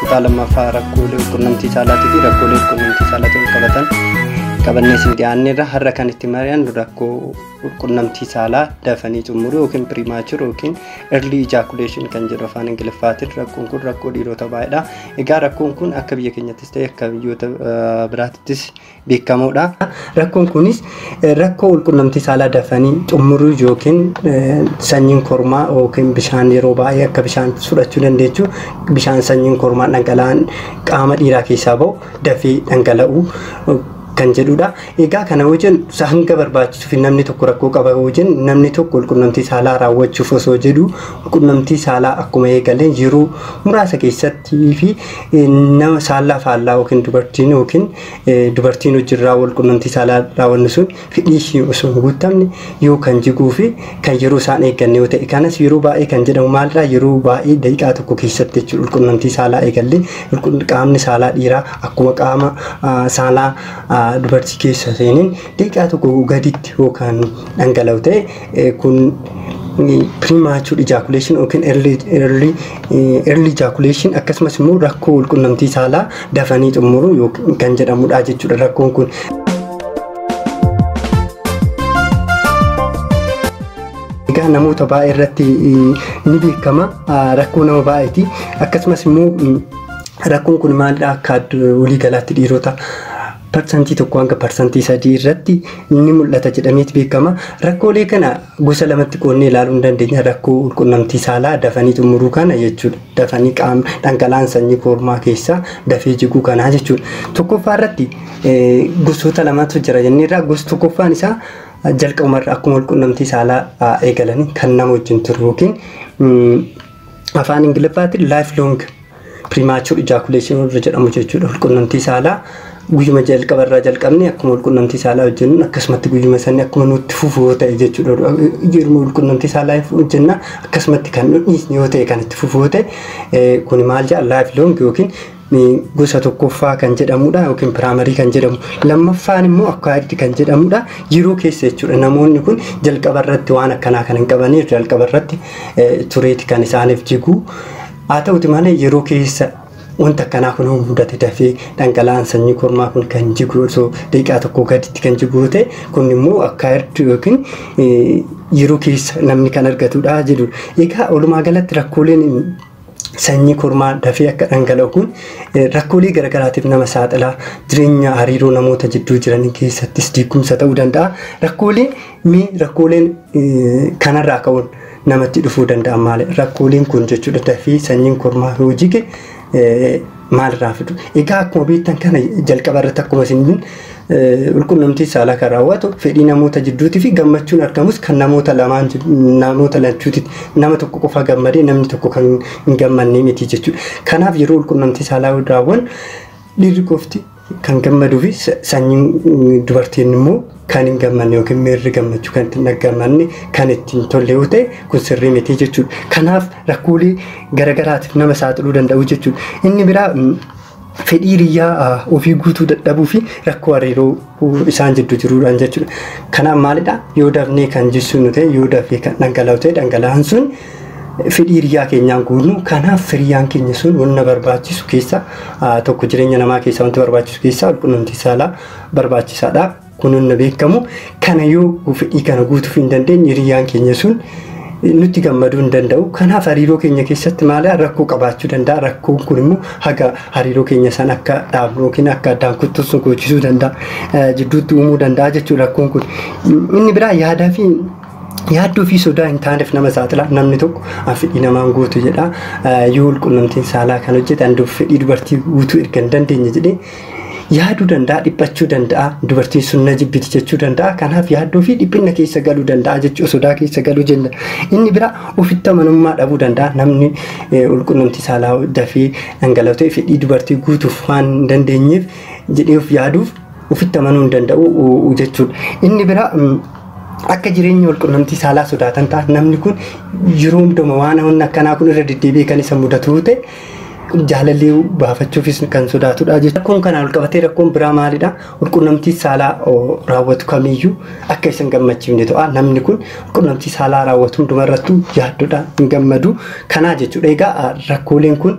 Kutaa lammaffaa rakkoolee qunnamtii saalaatii fi rakkoolee qunnamtii saalaatiin qabatan qabannee isin dhiyaanneerra har'a kan itti mari'annu rakkoo qunnamtii saalaa dafanii xumuruu yookiin pirimaachur yookiin erlii ijaakuleeshin kan jedhu afaan ingiliffaatiin rakkoon kun rakkoo dhiirota baay'eedha. Egaa rakkoon kun akka biyya keenyattis ta'e akka biyyoota biraattis beekamuudha. Rakkoon kunis rakkoo walqunnamtii saalaa dafanii xumuruu yookiin sanyiin kormaa yookiin bishaan yeroo baay'ee akka bishaan fudhachuu dandeechu bishaan sanyiin kormaa dhangala'aan qaama dhiiraa keessaa ba'u dafee dhangala'u kan jedhudha. Egaa kana yoo jennu hanga barbaachisuuf namni tokko rakkoo qaba yoo jennu namni tokko walqunnamtii saalaa raawwachuuf osoo jedhu walqunnamtii saalaa akkuma eegaleen yeroo muraasa keessatti fi nama saalaa faallaa yookiin dubartiin yookiin dubartiin hojirraa wal qunnamtii saalaa raawwannu sun fedhii ishii osoo hin guuttamne yoo kan jiguu fi kan yeroo isaan eegganne yoo ta'e kanas yeroo baay'ee kan jedhamu maalirraa yeroo baay'ee daqiiqaa tokko keessatti jechuudha wal qunnamtii saalaa eegallee wal qunn- qaamni saalaa dhiiraa akkuma qaama ah, saalaa ah, dubartii keessa seeniin daqiiqaa tokko gaditti yoo kan dhangala'u ta'e kun premature ejaculation yookiin early early early ejaculation akkasumas immoo rakkoo walqunnamtii saalaa dafanii xumuruu yookiin kan jedhamudha jechuudha rakkoon kun. Egaa namoota baay'ee irratti ni beekama rakkoo nama baay'eeti akkasumas immoo rakkoon kun maalidha akka waliigalaatti dhiirota parsantii 1 hanga parsantii 3 irratti ni mul'ata jedhameeti beekama. Rakkoolee kana gosa lamatti qoodnee ilaaluu ni dandeenya. Rakkoo walqunnamtii saalaa dafanii xumuruu kana jechuudha. Dafanii qaama dhangala'aan sanyii kormaa keessaa dafee jiguu kanaa jechuudha. Tokkoffaa irratti eh, gosoota lamatu jira jennee irraa gosa tokkoffaan isaa jalqabumarra akkuma walqunnamtii saalaa ah, eegalanii kan nama wajjin turu yookiin mm, afaan ingiliffaatiin life long Premature ejaculation warra jedhamu jechuudha. Walqunnamtii saalaa guyyuma jalqaba irraa jalqabne akkuma walqunnamtii saalaa hojjennuun akkasumatti guyyuma sanni akkuma nutti fufu yoo ta'e jechuudha. Yeruma walqunnamtii saalaa hojjenna akkasumatti kan nu dhiisne yoo ta'e kan itti fufu yoo ta'e kuni maal jedha life long yookiin gosa tokkoffaa kan jedhamudha yookiin piraamarii kan jedhamu lammaffaan immoo akkaayirdi kan jedhamudha yeroo keessa jechuudha namoonni kun jalqaba irratti waan akkanaa kan hin qabaniif jalqaba irratti tureeti kan isaaniif jiguu Haa ta'uti malee yeroo keessa wanta akkanaa kun mudate dafee dhangala'aan sanyii kormaa kun kan jigu osoo daqiiqaa tokko gaditti kan jigu ta'e kun immoo akka erdu yookiin yeroo keessa namni kan argatudha jedhu. Egaa walumaa galatti rakkooleen sanyii kormaa dafee akka dhangala'u kun rakkoolee garaagaraatiif nama saaxila. Jireenya hariiroo namoota jidduu jiran keessattis diigumsa ta'uu danda'a. Rakkoolee mee rakkooleen kanarraa ka'uun namatti dhufuu danda'an maali? Rakkooleen kun jechuudha dafii sanyiin kormaa yoo jige maalirraa fidu? Egaa akkuma beektan kana jalqaba irratti akkuma isin qulqunnamtii saalaa kan raawwatu fedhii namoota jidduutii fi gammachuun argamus kan namoota lamaan namoota lachuuti nama tokko qofa gammadee namni tokko kan hin gammadne miti jechuudha. Kanaaf yeroo qulqunnamtii saalaa raawwan dhiirri qofti Kan gammaduu fi sanyiin dubartiin immoo kan hin gammanne yookiin miirri gammachuu kan ittiin dhaggamanne kan ittiin tolle yoo ta'e kun sirrii miti jechuudha. Kanaaf rakkoolee garagaraatiif nama saaxiluu danda'u jechuudha. Inni biraa fedhii hiriyyaa ofii guutuu dadhabuu fi rakkoo hariiroo isaan jidduu jiruudhaan jechuudha. Kanaaf maalidha yoo dafnee kan jissuun ta'e yoo dafee kan dhangala'u ta'e dhangala'aan sun fedhii hiriyyaa keenyaan guunnu kanaaf hiriyyaan keenya sun wanna barbaachisu keessa tokko jireenya namaa keessa wanti barbaachisu keessa walqunnamtii saalaa barbaachisaadha kun wanna beekamu kana yoo fedhii kana guutuuf hin dandeenye hiriyyaan keenya sun nutti gammaduu hin danda'u kanaaf hariiroo keenya keessatti maaliyaa rakkoo qabaachuu danda'a rakkoon kun immoo haga hariiroo keenya san akka dhaabnu yookiin akka addaan kuttuus nu goochisuu danda'a jidduutti uumuu danda'a jechuudha rakkoon kun inni biraa yaadaa fi Yaaddoo fi sodaa hin taaneef nama saaxila. Namni tokko an fedhii namaan guutu jedha. Yoo walqunnamtiin saalaa kan hojjetan fedhii dubartii guutuu erga hin dandeenye jedhee yaaduu danda'a, dhiphachuu danda'a, dubartiin sun na jibbiti jechuu danda'a. Kanaaf yaaddoo fi dhiphinna keessa galuu danda'a jechuu sodaa keessa galuu jenna. Inni bira ofitti amanummaa dhabuu danda'a. Namni walqunnamtii saalaa dafee dhangala'u ta'e fedhii dubartii guutuuf waan hin dandeenyeef jedhee of yaaduuf Ufitti amanuu hin danda'u jechuudha. Inni bira akka jireenya walqunnamtii saalaa sodaatan ta'a. Namni kun yeroo hundumaa waan hawwanni akkanaa kun irra deddeebi'ee kan isa mudatu ta'e jaalallee baafachuufis kan sodaatudha jechuudha. Rakkoon kanaan wal qabatee rakkoon biraa maalidha? Walqunnamtii saalaa raawwatu kamiyyuu akka isa hin gammachiifne ta'a. Namni kun walqunnamtii saalaa raawwatu hundumarrattuu yaaddodha hin gammadu. Kanaa jechuudha. Egaa rakkooleen kun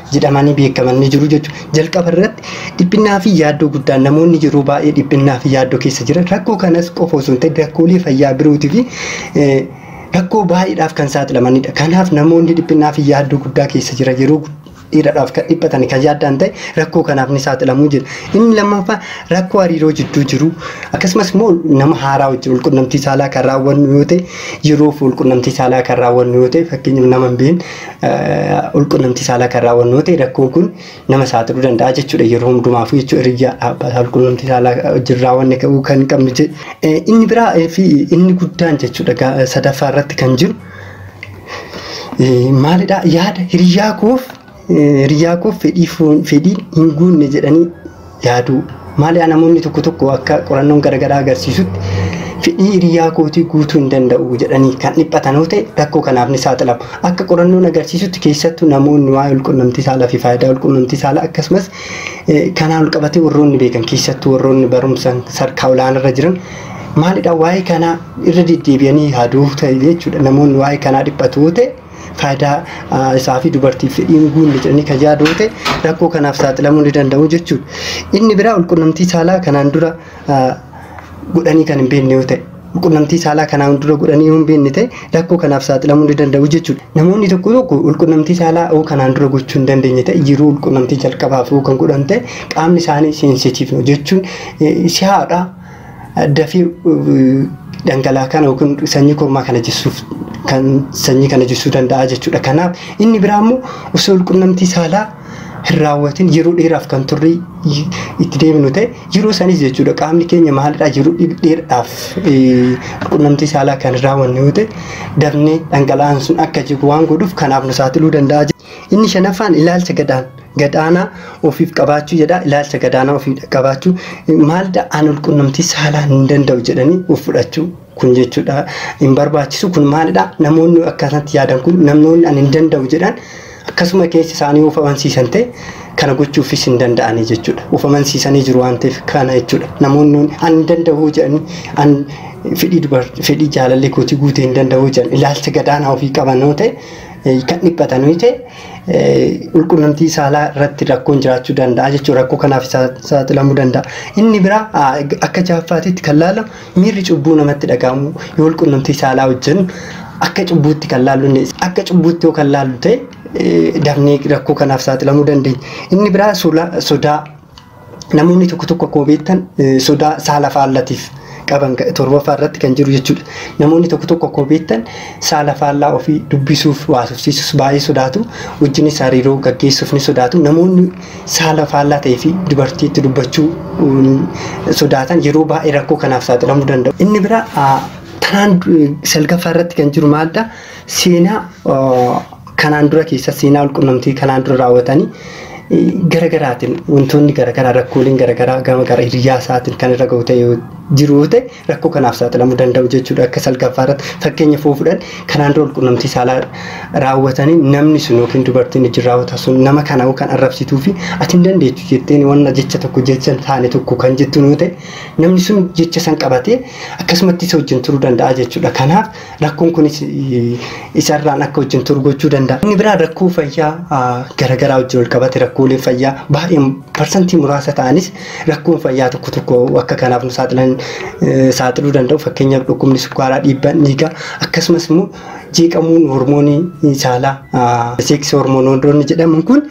jedhamanii beekaman ni jiru jechuudha. Jalqaba irratti dhiphinnaa fi yaaddoo guddaan namoonni yeroo baay'ee dhiphinnaa fi yaaddoo keessa jiran rakkoo kanas qofa osoo hin ta'in rakkoolee fayyaa birootii fi rakkoo baay'eedhaaf kan saaxilamanidha. Kanaaf namoonni dhiphinnaa fi yaaddoo guddaa keessa jiran yeroo dheeraadhaaf kan dhiphatan kan yaaddaan ta'e rakkoo kanaaf ni saaxilamu jedha. Inni lammaffaa rakkoo hariiroo jidduu jiru akkasumas immoo nama haaraa wajjin walqunnamtii saalaa kan raawwannu yoo ta'e yeroof walqunnamtii saalaa kan raawwannu yoo ta'e fakkeenyaaf nama hin beekne ulqunnamtii saalaa kan raawwannu yoo ta'e rakkoon kun nama saaxiluu danda'a jechuudha. Yeroo hundumaafuu jechuun hiriyyaa abbaa ulqunnamtii saalaa wajjin raawwanne ka'uu kan qabnu jedhe. Inni biraa fi inni guddaan jechuudha sadaffaa irratti kan jiru maalidha yaada hiriyyaa koof hiriyyaa koof fedhii foon fedhiin hin guunne jedhanii yaaduu. Maaliyaa namoonni tokko tokko akka qorannoon garagaraa agarsiisutti fedhii hiriyaa kootii guutuu hin danda'u jedhanii kan dhiphatan yoo ta'e rakkoo kanaaf ni saaxilamu. Akka qorannoon agarsiisutti keessattuu namoonni waa'ee walqunnamtii saalaa fi faayidaa walqunnamtii saalaa akkasumas kanaan walqabatee warroonni beekan keessattuu warroonni barumsa sadarkaa olaanarra jiran maalidha waa'ee kanaa irra deddeebi'anii yaaduu ta'e jechuudha. Namoonni waa'ee kanaa dhiphatu yoo ta'e faayidaa isaa fi dubartiif fedhii hin guunne jedhanii kan yaaduu ta'e rakkoo kanaaf saaxilamuu ni danda'u jechuudha. Inni biraa walqunnamtii saalaa kanaan dura godhanii kan hin beekne yoo ta'e walqunnamtii saalaa kanaan dura godhanii yoo hin beekne ta'e rakkoo kanaaf saaxilamuu ni danda'u jechuudha. Namoonni tokko tokko walqunnamtii saalaa yoo kanaan dura gochuu hin dandeenye ta'e yeroo walqunnamtii jalqabaaf yoo kan godhan ta'e qaamni isaanii seensitiivno jechuun si'aadha. Dafii dhangala'aa kana yookiin sanyii kormaa kana jissuuf kan sanyii kana jissuu danda'a jechuudha. Kanaaf inni biraa immoo osoo walqunnamtii saalaa hin raawwatin yeroo dheeraaf kan turrii itti deemnu ta'e yeroo sanis jechuudha qaamni keenya maalidhaa yeroo dheeraadhaaf qunnamtii saalaa kan hin raawwanne yoo ta'e dafnee dhangala'aan sun akka jigu waan godhuuf kanaaf nu saaxiluu danda'a. Inni shanaffaan ilaalcha gadaan gadaanaa ofiif qabaachuu jedha ilaalcha gadaanaa ofiif qabaachuu maalidha an walqunnamtii saalaa hin danda'u jedhanii of fudhachuu kun jechuudha hin barbaachisu kun maalidha namoonni akkasatti yaadan kun namoonni an hin danda'u jedhan akkasuma keessa isaanii of amansiisan ta'e kana gochuufis hin danda'anii jechuudha of amansiisanii jiru waan ta'eef kana jechuudha namoonni an hin danda'u jedhanii an fedhii dubartii fedhii jaalallee kootii guutee hin danda'u jedhan ilaalcha gadaanaa ofii qaban yoo ta'e kan dhiphatan yoo ta'e Walqunnamtii saalaa irratti rakkoon jiraachuu danda'a jechuudha. Rakkoo kanaaf saaxilamuu danda'a. Inni biraa akka jaaffaatitti kan laalamu miirri cubbuu namatti dhaga'amu yoo walqunnamtii saalaa hojjennu akka cubbuutti kan laallu akka cubbuutti yoo kan laallu ta'e dafnee rakkoo kanaaf saaxilamuu dandeenya. Inni biraa sodaa Namoonni tokko tokko akkuma beektan sodaa saala faallatiif qaban torbaffaa irratti kan jiru jechuudha. Namoonni tokko tokko akkuma beektan saala faallaa ofii dubbisuuf waasofsiisuus baay'ee sodaatu. Wajjinis hariiroo gaggeessuuf ni sodaatu. Namoonni saala faallaa ta'ee fi dubartiitti dubbachuu sodaatan yeroo baay'ee rakkoo kanaaf saaxilamuu danda'u. Inni biraa tanaan salgaffaa irratti kan jiru maalidha? seenaa kanaan dura keessa seenaa walqunnamtii kanaan dura raawwatanii gara garaatiin wantoonni gara garaa rakkooleen gara garaa gama gara hiriyaa isaatiin kan irra gahu ta'e yoo jiru yoo ta'e rakkoo kanaaf saaxilamuu danda'u jechuudha akka salgaffaa irratti fakkeenya fuu fudhan kanaan dura walqunnamtii saalaa raawwatanii namni sun yookiin dubartiin ijji raawwata sun nama kana yoo kan arrabsituu fi ati hin dandeechu jetteen wanna jecha tokko jecha hin taane tokko kan jettu yoo ta'e namni sun jecha san qabatee akkasumatti isa wajjin turuu danda'a jechuudha kanaaf Rakkoon kunis isarraan akka wajjin turu gochuu danda'a. Inni biraa rakkoo fayyaa garagaraa wajjin wal qabate rakkoolee fayyaa baay'een parsantii muraasa ta'anis rakkoon fayyaa tokko tokko akka kanaaf nu saaxilan saaxiluu danda'u. Fakkeenyaaf dhukkubni sukkaaraa dhiibbaan dhiigaa akkasumas immoo jeeqamuun hormoonii saalaa seeksii hormoonoonni jedhaman kun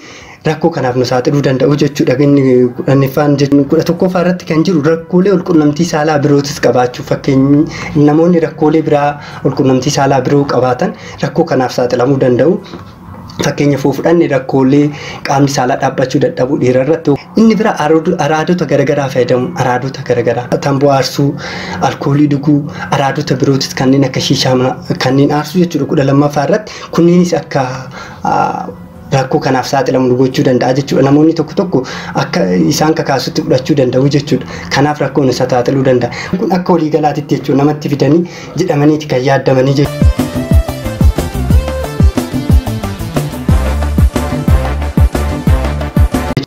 rakkoo kanaaf nu saaxiluu danda'u jechuudha. Inni kudhanniffaan kudha tokkoffaa irratti kan jiru rakkoolee walqunnamtii saalaa birootis qabaachuu fakkeenyi namoonni rakkoolee biraa walqunnamtii saalaa biroo qabaatan rakkoo kanaaf saaxilamuu danda'u. Fakkeenya foo fudhanne rakkoolee qaamni saalaa dhaabbachuu dadhabuu dhiira irratti inni bira araadota garaagaraa fayyadamu araadota garaagaraa tamboo aarsuu alkoolii dhuguu araadota birootis kanneen akka shiishaa kanneen aarsuu jechuudha kudha lammaffaa irratti kunneenis akka rakkoo kanaaf saaxilamu nu gochuu danda'a jechuudha. Namoonni tokko tokko akka isaan kakaasutti fudhachuu danda'u jechuudha. Kanaaf rakkoo nu saaxiluu danda'a. Kun akka waliigalaatitti jechuudha namatti fidanii jedhamaniiti kan yaaddamanii jechuudha.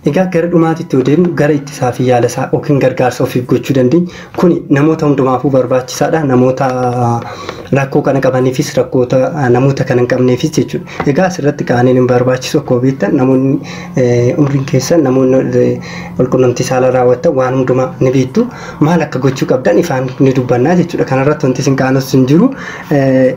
Egaa gara dhumaatitti yoo deemnu gara ittisaa fi yaala isaa yookiin gargaarsa ofiif gochuu dandeenyu Kuni namoota hundumaafuu barbaachisaadha. Namoota rakkoo kana qabaniifis rakkoota namoota kana hin qabneefis jechuudha. Egaa asirratti qaaniin hin barbaachisu akkuma beektan namoonni umriin keessan namoonni walqunnamtii saalaa raawwattan waan hundumaa ni beektu. Maal akka gochuu qabdan ifaan ni dubbannaa jechuudha. Kanarratti wanti isin qaanus hin jiru.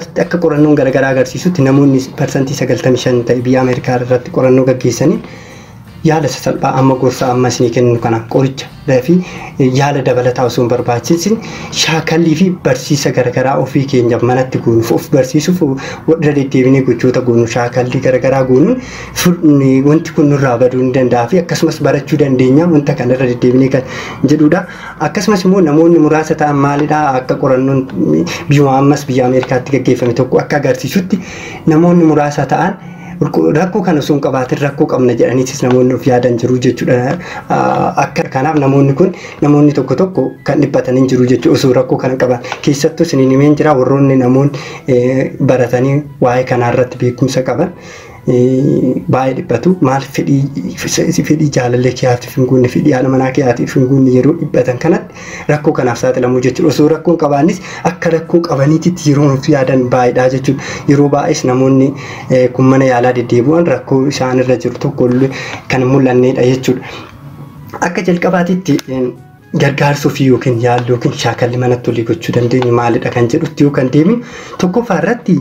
Asitti akka qorannoon garagaraa agarsiisutti namoonni parsantii 95 ta'e biyya Ameerikaa irratti qorannoo gaggeessaniin yaala sasalphaa amma gorsa amma isinii kennu kana qoricha fi yaala dabalataa osoo hin barbaachisin shaakallii fi barsiisa garagaraa ofii keenyaaf manatti goonuuf of barsiisuuf irra deddeebinee gochoota goonu shaakallii garagaraa goonuun wanti kun nurraa baduu ni danda'a fi akkasumas barachuu dandeenya wanta kana irra deddeebinee kan jedhudha. Akkasumas immoo namoonni muraasa ta'an maalidha akka qorannoon biyyuma ammas biyya Ameerikaatti gaggeeffame tokko akka agarsiisutti namoonni muraasa ta'an rakkoo kana osoo hin qabaatin rakkoo qabna jedhaniitis namoonni of yaadan jiru jechuudha. Akka kanaaf namoonni kun namoonni tokko tokko kan dhiphatan hin jiru jechuudha osoo rakkoo kana qaban. Keessattuu isiniin himeen jira warroonni namoonni baratanii waa'ee kanaa irratti beekumsa qaban. baay'ee dhiphatu maal fedhii fedhii jaalallee keeyaatiif hin guunne fedhii haadha manaa keeyaatiif hin guunne yeroo dhiphatan kanatti rakkoo kanaaf saaxilamuu jechuudha osoo rakkoo hin qabaannis akka rakkoo qabaniititti yeroo nuuf yaadan baay'eedha jechuudha yeroo baay'ees namoonni kun mana yaalaa deddeebi'an rakkoo isaan irra jiru tokko kan mul'anneedha jechuudha akka jalqabaatitti Gargaarsi ofii yookiin yaalli yookiin shaakalli manatti olii gochuu dandeenyu maalidha kan jedhutti yoo kan deemnu tokkoffaa irratti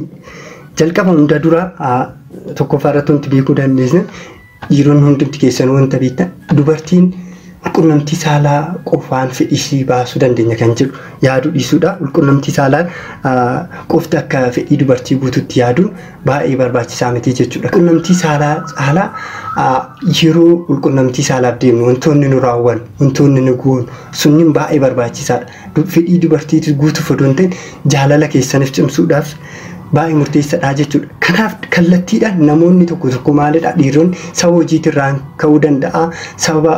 jalqaba hunda dura tokkoffaa irratti wanti beekuu dandeessan dhiironni hundumti keessan wanta beektan dubartiin qunnamtii saalaa qofaan fedhii ishii baasuu dandeenya kan jedhu yaaduu dhiisuudha. Qunnamtii saalaa qofti akka fedhii dubartii guututti yaaduun baay'ee barbaachisaa miti jechuudha. Qunnamtii saalaa caalaa yeroo qunnamtii saalaaf deemnu wantoonni nu raawwan wantoonni nu goon sunniin baay'ee barbaachisaadha. Fedhii dubartiitu guutuuf odoo hin ta'in jaalala keessaniif cimsuudhaaf baay'ee murteessadha jechuudha. Kanaaf kallattiidhaan namoonni tokko tokko maalidha dhiironni sababa hojiitirraan ka'uu danda'a sababa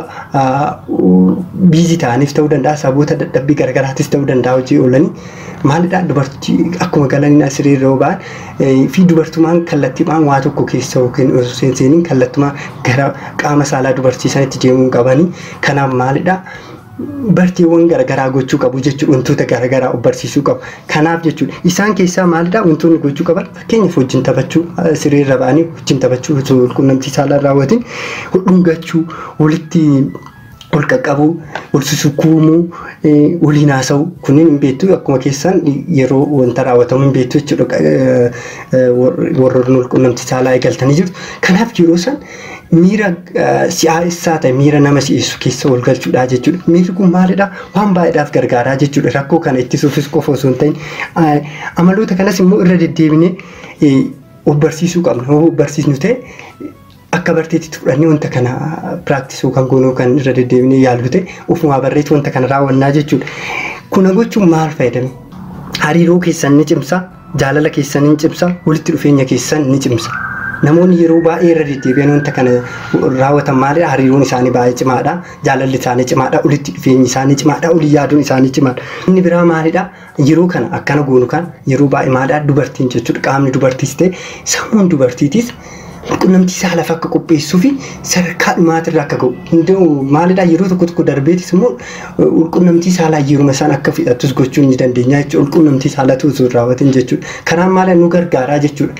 biizii ta'aniif ta'uu danda'a sababoota dadhabbii garagaraatiif ta'uu danda'a hojii oolanii Maalidhaa dubartii akkuma galaniin asirii irra ba'an fi dubartumaan kallattiidhaan waa tokko keessa yookiin osoo seenseeniin kallattumaa gara qaama saalaa dubartii sanitti deemuun qabanii kanaaf maalidhaa barteewwan garagaraa gochuu qabu jechuudha wantoota garagaraa of barsiisuu qabu kanaaf jechuudha isaan keessaa maalidhaa wantoonni gochuu qaban fakkeenyaaf wajjin taphachuu siree irra ba'anii wajjin taphachuu osoo qunnamtii saalaa raawwatiin dhungachuu walitti wal qaqqabuu, wal susukuumuu, waliin haasa'u kunneen hin beektu akkuma keessan yeroo wanta raawwatamu hin beektu jechuudha. Warroonni wal qunnamtii saalaa eegaltanii jirtu. Kanaaf yeroo san miira si'aa'essaa ta'e miira nama si'eessu keessa wal galchuudha jechuudha. Miirri kun maalidha? Waan baay'eedhaaf gargaaraa jechuudha. Rakkoo kana ittisuufis qofa osoo hin ta'in amaloota kanas immoo irra deddeebinee of barsiisuu qabna. Yoo barsiisnu ta'e akka barteetti fudhannee wanta kana piraaktisuu kan goonuu kan irra deddeebinee yaallu ta'e ofumaa barreetti wanta kana raawwannaa jechuudha. Kuna gochuun maal fayyadame? Hariiroo keessan ni cimsa, jaalala keessan ni cimsa, walitti dhufeenya keessan ni cimsa. Namoonni yeroo baay'ee irra deddeebi'an wanta kana raawwatan maalidha? Hariiroon isaanii baay'ee cimaadha, jaalalli isaanii cimaadha, walitti dhufeenyi isaanii cimaadha, walii yaaduun isaanii cimaadha. Inni biraa maalidha? Yeroo kana akkana goonu kan yeroo baay'ee maadhaa dubartiin jechuudha qaamni dubartiis ta'e sammuun dubartiitis qunnamtii saalaaf akka qopheessuu fi sadarkaa dhumaatirra akka ga'u hunda'u maalidhaa yeroo tokko tokko darbeetis immoo ulqunnamtii saalaa yeruma isaan akka fixattus gochuu ni dandeenya jechuudha ulqunnamtii saalatu osoo hin raawwatin jechuudha kanaan maala nu gargaaraa jechuudha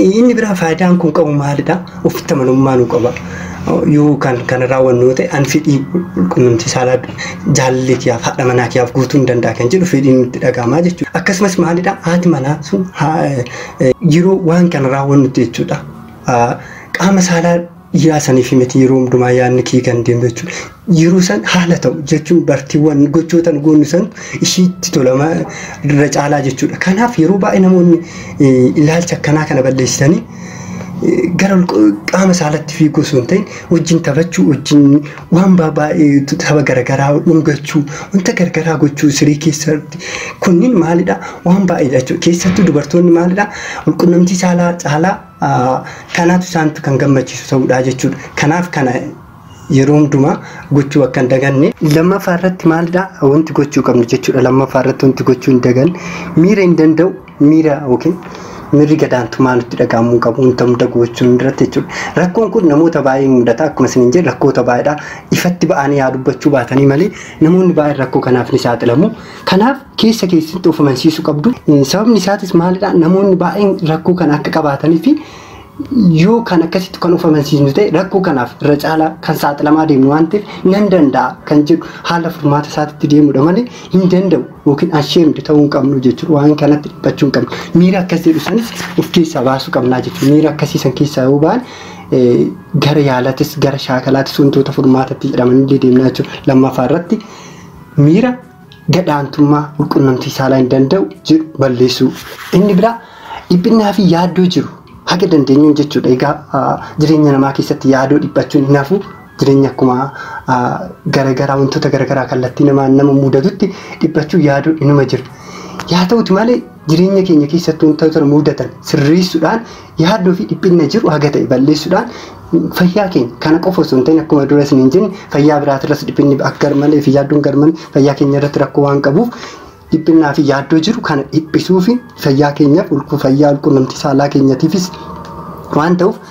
Inni biraa faayidaan kun qabu maalidha? Ofitti amanummaa nu qaba. Yoo kan kana raawwannu yoo ta'e an fedhii qunnamtii saalaa jaalallee kiyyaaf haadha manaa kiyyaaf guutuu hin danda'a kan jedhu fedhiin nutti dhaga'amaa jechuudha. Akkasumas maalidha haati manaa sun yeroo waan kana raawwannutti jechuudha. Qaama saalaa Yaa sanifi miti yeroo hundumaa yaadni kee kan deemu jechuudha. Yeroo san haala ta'u jechuun bartiiwwan gochoota nu goonu san ishiitti tolama irra caalaa jechuudha. Kanaaf yeroo baay'ee namoonni ilaalcha akkanaa kana balleessitanii gara qaama saalatti fiiguu osoo hin ta'in wajjin taphachuu wajjin waan baay'ee tapha garagaraa dhungachuu wanta garagaraa gochuu siree keessatti kunniin maalidha waan baay'eedha jechuudha. Keessattuu dubartoonni maalidha walqunnamtii saalaa caalaa Kanaaf isaan kan gammachiisu ta'uudha jechuudha. Kanaaf kana yeroo hundumaa gochuu akka hin daganne. Lammaffaa irratti maalidha wanti gochuu qabnu jechuudha. Lammaffaa irratti wanti gochuu hin daganne miira hin danda'u miira yookiin miirri gadaantummaa nutti dhaga'amuu hin qabu wanta hunda gochuun irratti jechuudha. Rakkoon kun namoota baay'ee mudata akkuma isin hin jedhe rakkoota baay'eedha. Ifatti ba'anii haa dubbachuu baatanii malee namoonni baay'een rakkoo kanaaf ni saaxilamu. Kanaaf keessa keessatti of amansiisuu qabdu. Sababni isaatis maalidha? Namoonni baay'een rakkoo kana akka qabaatanii fi yoo kan akkasitti kan of amansiisnu ta'e rakkoo kanaaf irra caalaa kan saaxilamaa deemnu waan ta'eef nan danda'a kan jedhu haala furmaata isaatitti deemudha malee hin danda'u yookiin asheemd ta'uu hin qabnu jechuudha waan kanatti dhiphachuu hin qabnu. Miira akkas jedhu sanis of keessaa baasuu qabnaa jechuudha. Miira akkasii san keessaa yoo ba'an gara yaalatis gara shaakalaatis wantoota furmaatatti jedhamanillee deemnaa jechuudha. Lammaffaa irratti Miira gad-aantummaa walqunnamtii saalaa hin danda'u jedhu balleessuu. Inni biraa dhiphinnaa fi yaaddoo jiru haga dandeenyuun jechuudha. Egaa jireenya namaa keessatti yaadoo dhiphachuun hin hafu. Jireenya akkuma garagaraa wantoota garagaraa kallattii namaan nama mudatutti dhiphachuu yaadoo inuma jira. Yaa ta'uti malee Jireenya keenya keessatti wantoota nu mudatan sirreessuudhaan yaaddoo fi dhiphinna jiru haga ta'e balleessuudhaan fayyaa keenya kana qofa osoo hin ta'in akkuma dura isiniin jenne fayyaa biraatirras dhiphinni akka garmalee fi yaaddoon garmalee fayyaa keenya irratti rakkoo waan qabuuf dhiphinnaa fi yaaddoo jiru kana dhiphisuu fi fayyaa keenyaaf ulquu fayyaa ulqunnamtii saalaa keenyatiifis waan ta'uuf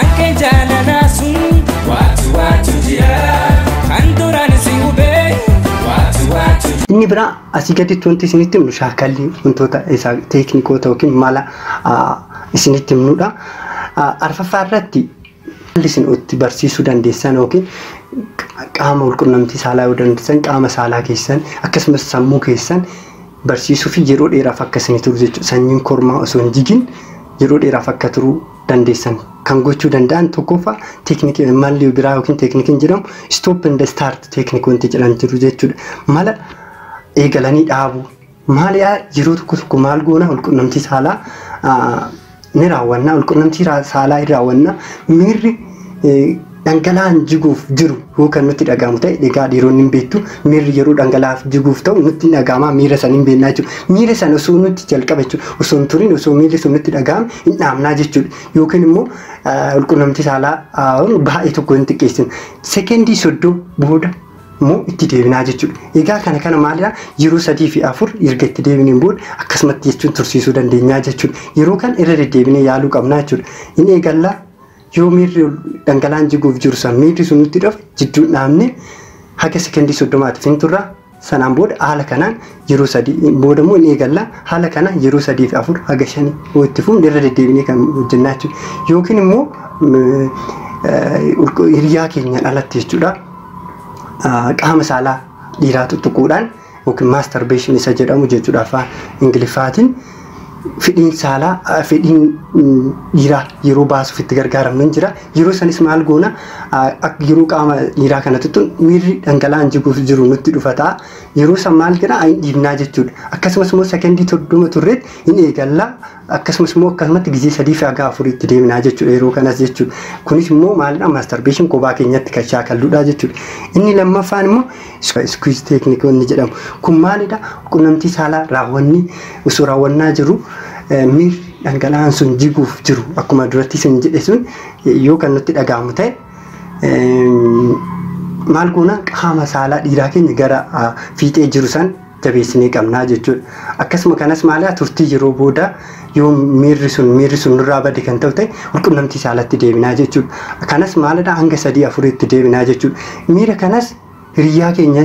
Akka jaalalaa sun waatu waatu jira kan duraan si hubee waatu waatu jira. Inni biraa asii gaditti wanti isinitti himnu shaakalli wantoota isaa teeknikoota yookiin mala isinitti himnudha. Arfaffaa irratti haalli isin itti barsiisuu dandeessan yookiin qaama walqunnamtii saalaa yoo dandeessan qaama saalaa keessan akkasumas sammuu keessan barsiisuu fi yeroo dheeraaf akka isin turu jechuudha. Sanyiin kormaa osoo hin jigin yeroo dheeraaf akka turu dandeessan kan gochuu danda'an tokkoffaa teeknikii malli biraa yookiin teeknikiin jedhamu stop and start teeknik wanti jedhan jiru jechuudha. Mala eegalanii dhaabuu maaliyaa yeroo tokko tokko maal goona walqunnamtii saalaa ah, ni raawwanna walqunnamtii raa- saalaa hin raawwanna miirri eh, Dhangala'aan jiguuf jiru yoo kan nutti dhaga'amu ta'e egaa dhiironni hin beektu miirri yeroo dhangala'aaf jiguuf ta'u nutti hin dhaga'ama miira san hin beeknaa jechuudha. Miira san osoo nutti jalqaba jechuudha. Osoo hin turin osoo miirri sun nutti dhaga'ame hin dhaamnaa jechuudha. Yookiin immoo walqunnamtii saalaa baay'ee tokko hin xiqqeessinu. Sekendii soddoo booda immoo itti deebinaa jechuudha. Egaa kana kana maalidha yeroo sadii fi afur erga itti deebineen booda akkasumatti jechuun tursiisuu dandeenyaa jechuudha. Yeroo kan irra deddeebinee yaaluu qabnaa jechuudha. Hin eegallaa Yoo miirri dhangala'aan jiguuf jiru san miirri sun nutti dhufe jidduun dhaabne haga sekondii soddomaatiif hin turra. Sanaan booda haala kanaan yeroo sadii booda immoo hin eegalla. Haala kanaan yeroo sadii fi afur haga shanii yoo itti fufne irra deddeebinee kan hojjennaa jechuudha. Yookiin immoo hiriyaa keenyaan alatti jechuudha qaama saalaa dhiiraa tuttuquudhaan yookiin masturbation isa jedhamu jechuudha afaan ingiliffaatiin fedhiin saalaa fedhiin dhiiraa yeroo baasuuf itti gargaaramnu hin jira yeroo sanis maal goona yeroo qaama dhiiraa kanatti tun miirri dhangala'aan jiguuf jiru nutti dhufataa yeroo san maal jedha hin dhiibnaa jechuudha akkasumas immoo sekendii soddoma turreet hin eegallaa Akkasumas immoo akkasumatti gizee sadii fi haga afurii itti deemnaa jechuudha yeroo kanas jechuudha. Kunis immoo maalidha masturbation kophaa keenyatti kan shaakalludha jechuudha. Inni lammaffaan immoo squeeze technique wanni jedhamu. Kun maalidha qunnamtii saalaa raawwanni osoo raawwannaa jiru miir dhangala'aan sun jiguuf jiru akkuma duratti isin jedhe sun yoo kan nutti dhaga'amu ta'e maal goona qaama saalaa dhiiraa keenya gara fiixee jiru san jabeessinee qabna jechuudha. Akkasuma kanas maalaa turtii yeroo booda yoo miirri sun miirri sun nurraa bade kan ta'u ta'e walqunnamtii saalatti deebinaa jechuudha. Kanas maalidha hanga sadii afuriitti deebinaa jechuudha. Miira kanas hiriyyaa keenya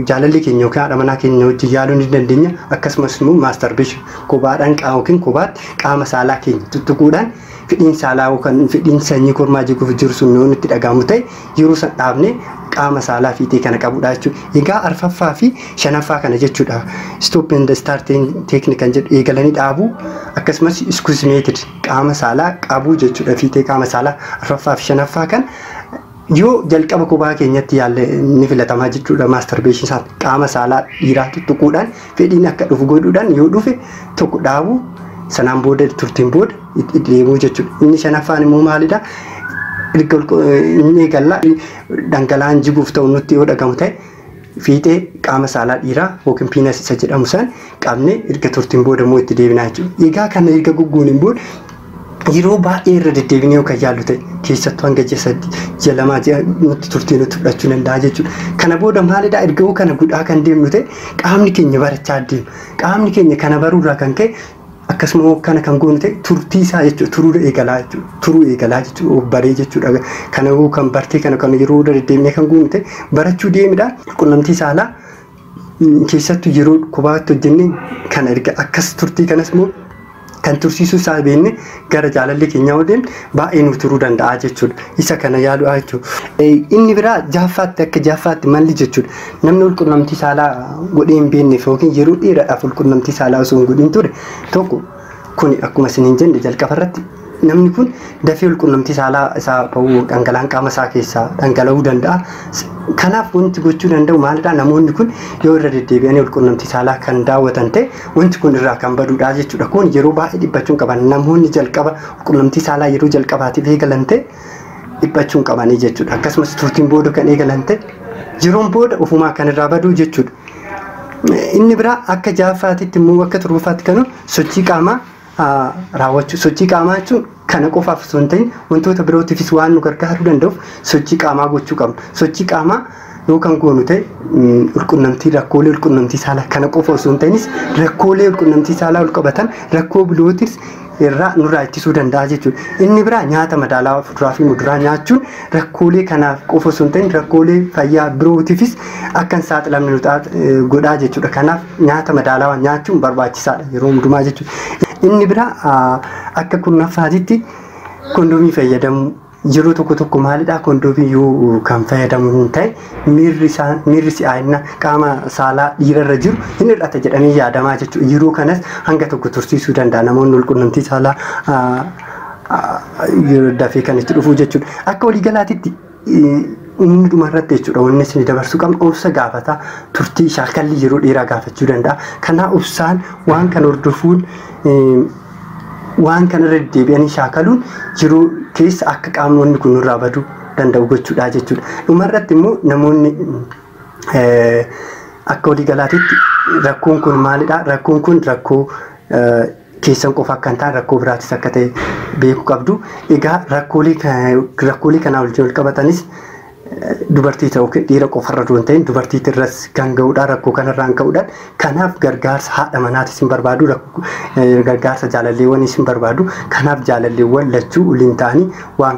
jaalallee keenya yookiin haadha manaa keenya wajjin yaaluu ni dandeenya. Akkasumas immoo maastarbeeshin kobaadhaan qaama yookiin kobaatti qaama saalaa keenya tuttuquudhaan fedhiin saalaa yookaan fedhiin sanyii kormaa jiguuf jiru sun yoo nutti dhaga'amu ta'e yeroo san dhaabne qaama saalaa fiixee kana qabudha jechuudha. Egaa arfaffaa fi shanaffaa kana jechuudha. Stop and start technique kan jedhu eegalanii dhaabuu akkasumas iskuus meetid qaama saalaa qabuu jechuudha. Fiixee qaama saalaa arfaffaa fi shanaffaa kan Yoo jalqaba kophaa keenyatti yaalle ni filatamaa jechuudha maastarbeeshin isaan qaama saalaa dhiiraa tuttuquudhaan fedhiin akka dhufu godhuudhaan yoo dhufe tokko dhaabu sanaan booda turtiin booda itti deemuu jechuudha. Inni shanaffaan immoo maalidha? Inni eegalla dhangala'aan jiguuf ta'u nutti yoo dhagamu ta'e fiixee qaama saalaa dhiiraa yookiin piinas isa jedhamu san qabne erga turtiin booda immoo itti deebinaa jechuudha. Egaa kana erga goggooniin booda yeroo baay'ee irra deddeebinee yoo kan yaallu ta'e keessattuu hanga ji'a sadii ji'a lamaa ji'a nutti turtii nutti fudhachuu danda'a jechuudha. Kana booda maalidhaa erga yoo kana godhaa kan deemnu ta'e qaamni keenya barachaa deema. Qaamni keenya kana baruurraa kan ka'e Akkasuma hoo kana kan goonu ta'e turtii isaa jechuudha. Turuudha eegalaa jechuudha. Turuu eegalaa jechuudha. Of baree jechuudha. Kana hoo kan bartee kana kan yeroo irra deddeemnee kan goonu ta'e barachuu deemidha. Qunnamtii saalaa keessattuu yeroo kophaatti hojjennee kan erga akkas turtii kanas immoo kan tursiisuu isaa beekne gara jaalalli keenya yoo deemne baay'ee nuuf turuu danda'a jechuudha. Isa kana yaaluudha jechuudha. Inni biraa jaaffaatti akka jaaffaatti malli jechuudha. Namni walqunnamtii saalaa godhee hin beekneef yookiin yeroo dheeraadhaaf walqunnamtii saalaa osoo hin godhin ture tokko kuni akkuma isin hin jenne jalqaba irratti namni kun dafee walqunnamtii saalaa isaa ba'uu dhangala'aan qaama isaa keessaa dhangala'uu danda'a. Kanaaf wanti gochuu danda'u maalidhaa namoonni kun yoo irra deddeebi'anii walqunnamtii saalaa kan daawwatan ta'e Wanti kun irraa kan baduudha jechuudha. Kun yeroo baay'ee dhiphachuu hin qaban. Namoonni jalqaba qunnamtii saalaa yeroo jalqabaatiif eegalan ta'e dhiphachuu hin qabanii jechuudha. Akkasumas turtiin booda kan eegalan ta'e yeroon booda ofumaa kan irraa baduu jechuudha. Inni biraa akka jaaffaatitti immoo akka torbaffaatti kan sochii qaamaa raawwachuu sochii qaamaa jechuun kana qofaaf osoo hin ta'in wantoota birootiifis waan nu gargaaruu danda'uuf sochii qaamaa gochuu qabna. Sochii qaamaa yoo kan goonu ta'e ulqunnamtii rakkoolee ulqunnamtii saalaa kana qofa osoo hin ta'inis rakkoolee ulqunnamtii saalaa ol qabatan rakkoo birootis irraa nurraa ittisuu danda'a jechuudha. Inni biraa nyaata madaalawaa fuduraa fi muduraa nyaachuun rakkoolee kanaaf qofa osoo hin ta'in rakkoolee fayyaa birootiifis akka hin saaxilamne nu taat- eh, godhaa jechuudha. Kanaaf nyaata madaalawaa nyaachuun barbaachisaadha yeroo hundumaa jechuudha. Inni biraa ah, akka kurnaffaatitti kondomii fayyadamuu yeroo tokko tokko maalidhaa kondomii yoo kan fayyadamu hin ta'e miirri isaa miirri si'aayina qaama saalaa dhiirarra jiru hin hir'ata jedhamee yaadamaa jechuudha. Yeroo kanas hanga tokko tursiisuu danda'a namoonni walqunnamtii saalaa ah, yeroo dafee kan itti dhufuu jechuudha. Akka waliigalaatitti inni dhuma irratti jechuudha wanni isin dabarsuu qabnu obsa gaafata turtii shaakallii yeroo dheeraa gaafachuu danda'a. Kanaa obsaan waan kan hordofuun waan kana irra deddeebi'anii shaakaluun yeroo keessa akka qaamonni kun irraa baduu danda'u gochuudha jechuudha. Dhuma irratti immoo namoonni akka waliigalaatitti rakkoon kun maalidha? Rakkoon kun rakkoo keessan qofa akka hin taane rakkoo biraatis akka ta'e beekuu qabdu. Egaa rakkoolee ka- rakkoolee kanaa wajjin wal qabatanis eh, dubartii ta'u yookiin dhiira qofarra osoo hin ta'in dubartiitti irras kan ga'udha rakkoo kanarraan ka'uudhaan kanaaf gargaarsa haadha manaatis hin barbaadu rakko- eh, gargaarsa jaalalleewwaniis hin barbaadu kanaaf jaalalleewwan lachuu waliin ta'anii waan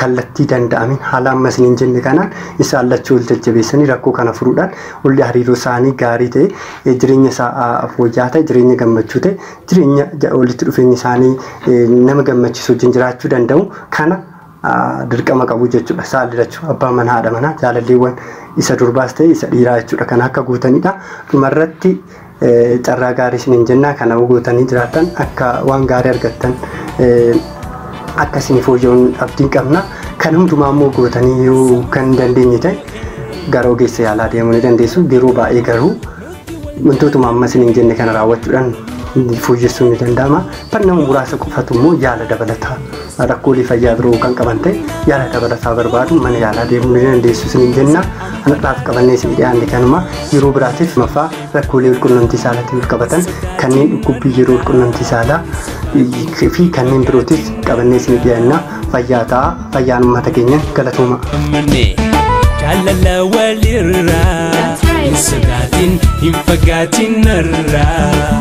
kallattii danda'ameen haala amma isiniin jenne kanaan isaan lachuu ol jajjabeessanii rakkoo kana furuudhaan olli hariiroo isaanii gaarii ta'e eh, jireenya isaa ah, fooyya'aa ta'e jireenya gammachuu ta'e jireenya ja- walitti dhufeenya isaanii eh, nama gammachiisu wajjin jiraachuu danda'u kana ah, dirqama qabu jechuudha saalli lachuu abbaa manaa haadha manaa jaalalleewwan isa durbaas ta'e isa dhiiraa jechuudha kana akka guutanidha dhumarratti Carraa gaarii isiniin jennaa kana gootanii jiraattan akka waan gaarii argattan akka isin fooyya'uun abdiin qabna. Kan hundumaa immoo gootanii yoo kan hin dandeenye ta'e gara ogeessa yaalaa deemuu ni dandeessu. Yeroo baay'ee garuu wantootuma amma isiniin jenne kana raawwachuudhaan fooyyessuun ni danda'ama. Barnama muraasa qofatu immoo yaala dabalataa Rakkoolee fayyaa biroo kan qaban ta'e yaala dabalataa barbaadu mana yaalaa deemuu ni dandeessu isiniin jenna. Anadhaaf qabannee isinii dhiyaanne kanuma yeroo biraatiif maffaa rakkoolee walqunnamtii saalaatiin wal qabatan kanneen dhukkubbii yeroo walqunnamtii saalaa fi kanneen birootis qabannee isinii dhiyaanna fayyaa ta'a fayyaan uummata keenya galatooma. Jaalala walirraa hin sodaatin hin fagaatin narraa.